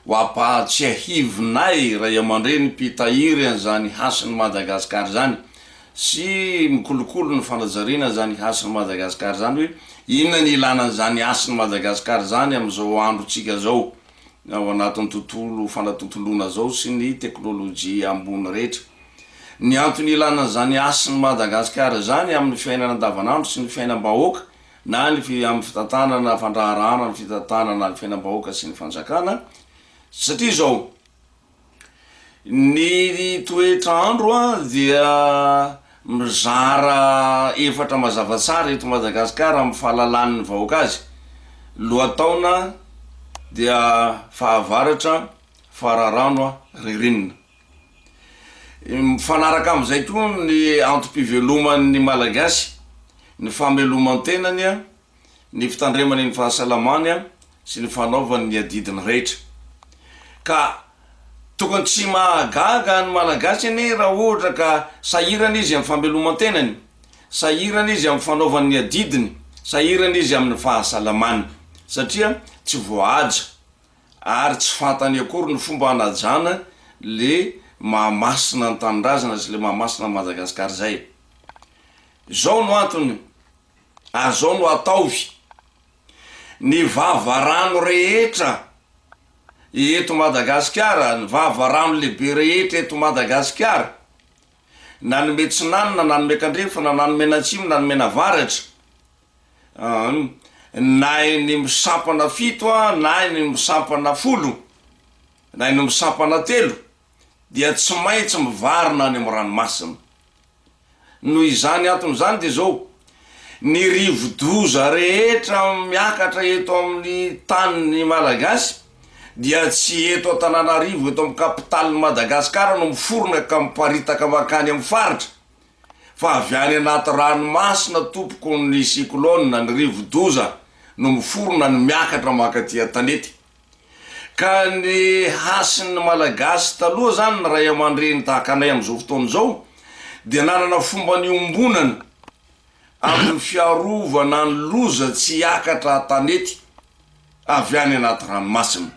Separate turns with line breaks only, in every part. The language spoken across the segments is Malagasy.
Ho ampahatsiahivinay ray aman-dreny mpitahiry an'izany hasin'i Madagasikara izany sy mikolokolo ny fanajariana izany hasin'i Madagasikara izany hoe inona ny ilana an'izany hasin'i Madagasikara izany amin'izao androntsika izao. ao anatin'ny tontolo fanatontoloana izao sy ny teknolojia ambony rehetra. Ny antony ilana an'izany hasin'i Madagasikara izany amin'ny fiainana andavanandro sy ny fiainam-bahoaka na ny amin'ny fitantanana fandraharahana ny fitantanana ny fiainam-bahoaka sy ny fanjakana satria izao, Ny toetra andro dia mizara efatra mazava tsara eto Madagasikara amin'ny fahalalan'ny vahoaka azy, lohataona dia fahavaratra, fararano, ririnina. Mifanaraka amin'izay koa ny antom-piveloman'ny Malagasy, ny fameloman-tenany ny fitandremany ny fahasalamany sy ny fanaovany ny adidiny rehetra. Ka tokony tsy mahagaga ny Malagasy anie raha ohatra ka sahirana izy amin'ny fameloman-tenany, sahirana izy amin'ny fanaovany ny adidiny, sahirana izy amin'ny fahasalamany satria tsy voahaja ary tsy fantany akory ny fomba hanajana le maha masina ny Tanindrazana sy le maha masina an'i Madagasikara izay. Izao no antony ary izao no ataovy, ny vavarano rehetra eto Madagasikara, ny vavarano lehibe rehetra eto Madagasikara, na ny miatsinanana, na ny miakandrefana, na ny mianatsimo, na ny mianavaratra, an, na eny misampana fito an, na eny misampana folo, na eny misampana telo, dia tsy maintsy mivarina any amin'ny ranomasina. Noho izany antony izany dia izao, ny rivodoza rehetra miakatra eto amin'ny tanin'ny Malagasy dia tsy eto Antananarivo, eto amin'ny kapitalin'i Madagasikara no miforona ka miparitaka mankany amin'ny faritra, fa avy any anaty ranomasina tompoko ny cyclone, ny rivodoza no miforona no miakatra mankaty an-tanety. Ka ny hasin'ny Malagasy taloha izany, ny ray aman-dreny tahaka anay amin'izao fotoana izao, dia nanana fomba niombonana amin'ny fiarovana ny loza tsy hiakatra an-tanety avy any anaty ranomasina.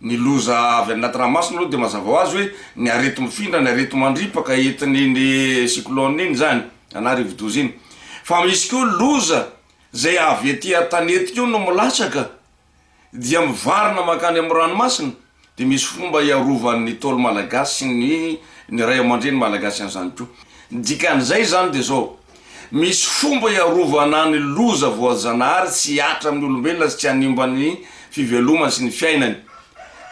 Ny loza avy any anaty ranomasina aloha dia mazava ho azy hoe ny areti-mifindra, ny areti-mandripaka entin'iny cyclone iny izany na rivodoza iny. Fa misy koa loza izay avy ety an-tanety koa no milatsaka dia mivarina mankany amin'ny ranomasina dia misy fomba hiarovan'ny Ntaolo malagasy ny ny ray aman-dreny malagasy an'izany koa. Ny dikan'izay izany dia izao, misy fomba hiarovana ny loza voajanahary tsy hihatra amin'ny olombelona sy tsy hanimba ny fivelomany sy ny fiainany.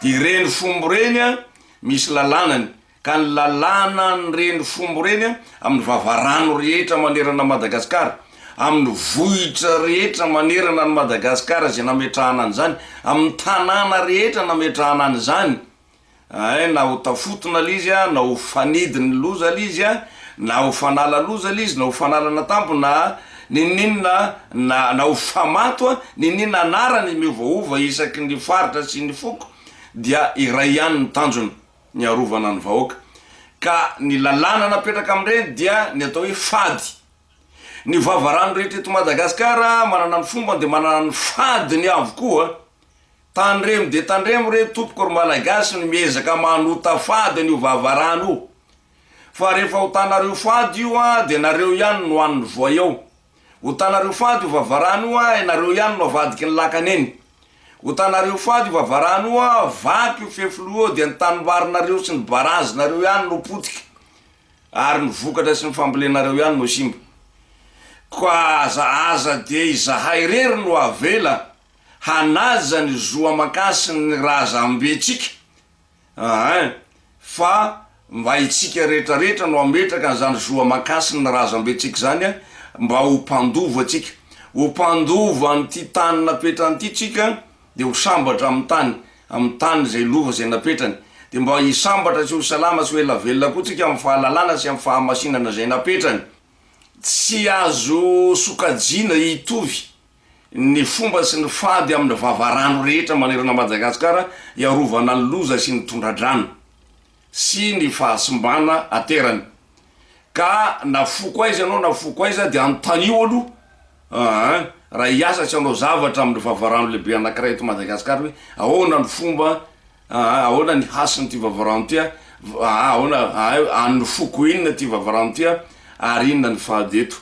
Dia ireny fomba ireny misy lalànany ka ny lalàna an'ireny fombo ireny amin'ny vavarano rehetra manerana an'i Madagasikara, amin'ny vohitra rehetra manerana an'i Madagasikara izay nametrahana an'izany, amin'ny tanàna rehetra nametrahana an'izany, ay, na ho tafotona ilay izy, na ho fanidin'ny loza ilay izy, na ho fanala loza ilay izy, na ho fanalana tampo, na n'inon'inona, na, na ho famato n'inon'inona anarana izy miovahova isaky ny faritra sy ny foko, dia iray ihany ny tanjona. ny arovana ny vahoaka ka ny lalàna napetraka amin'ireny dia ny atao hoe fady. Ny vavarano rehetra eto Madagasikara manana ny fombany dia manana ny fadiny avokoa. Tandremo dia tandremo re tompoko ry Malagasy ny miezaka manota fady an'io vavarano io fa rehefa otanareo fady io dia nareo ihany no an'ny voay ao. Otanareo fady o vavarano o ah ianareo ihany no avadiky ny lakana eny Otanareo fady o vavarano o ah vaky o fefiloha eo dia ny tanimbarinareo sy ny barazy nareo ihany no potika ary ny vokatra sy ny fambolenareo ihany no simba Koa aza aza dia izahay irery no avela hanaja ny zo aman-kasiny ny razambentsika Aa fa mba itsika rehetra rehetra no hametraka an'izany zo aman-kasina ny razambentsika izany a, mba ho mpandova tsika, ho mpandova an'ity tany napetrany ity tsika dia ho sambatra amin'ny tany, amin'ny tany izay lova izay napetrany, dia mba hisambatra sy ho salama sy ho ela velona koa tsika amin'ny fahalalana sy amin'ny fahamasinana izay napetrany. Tsy azo sokajiana hitovy. ny fomba sy ny fady amin'ny vavarano rehetra manerana Madagasikara hiarovana ny loza sy ny tondra-drano sy ny fahasimbana aterany. Ka na foko aiza ianao na foko aiza dia anontanio aloha an! raha hiasa sy hanao zavatra amin'ny vavarano lehibe anankiray eto Madagasikara hoe ahoana ny fomba an! ahoana ny hasin'ity vavarano ity an! ahoana an! an'ny foko inona ity vavarano ity an! ary inona ny fady eto.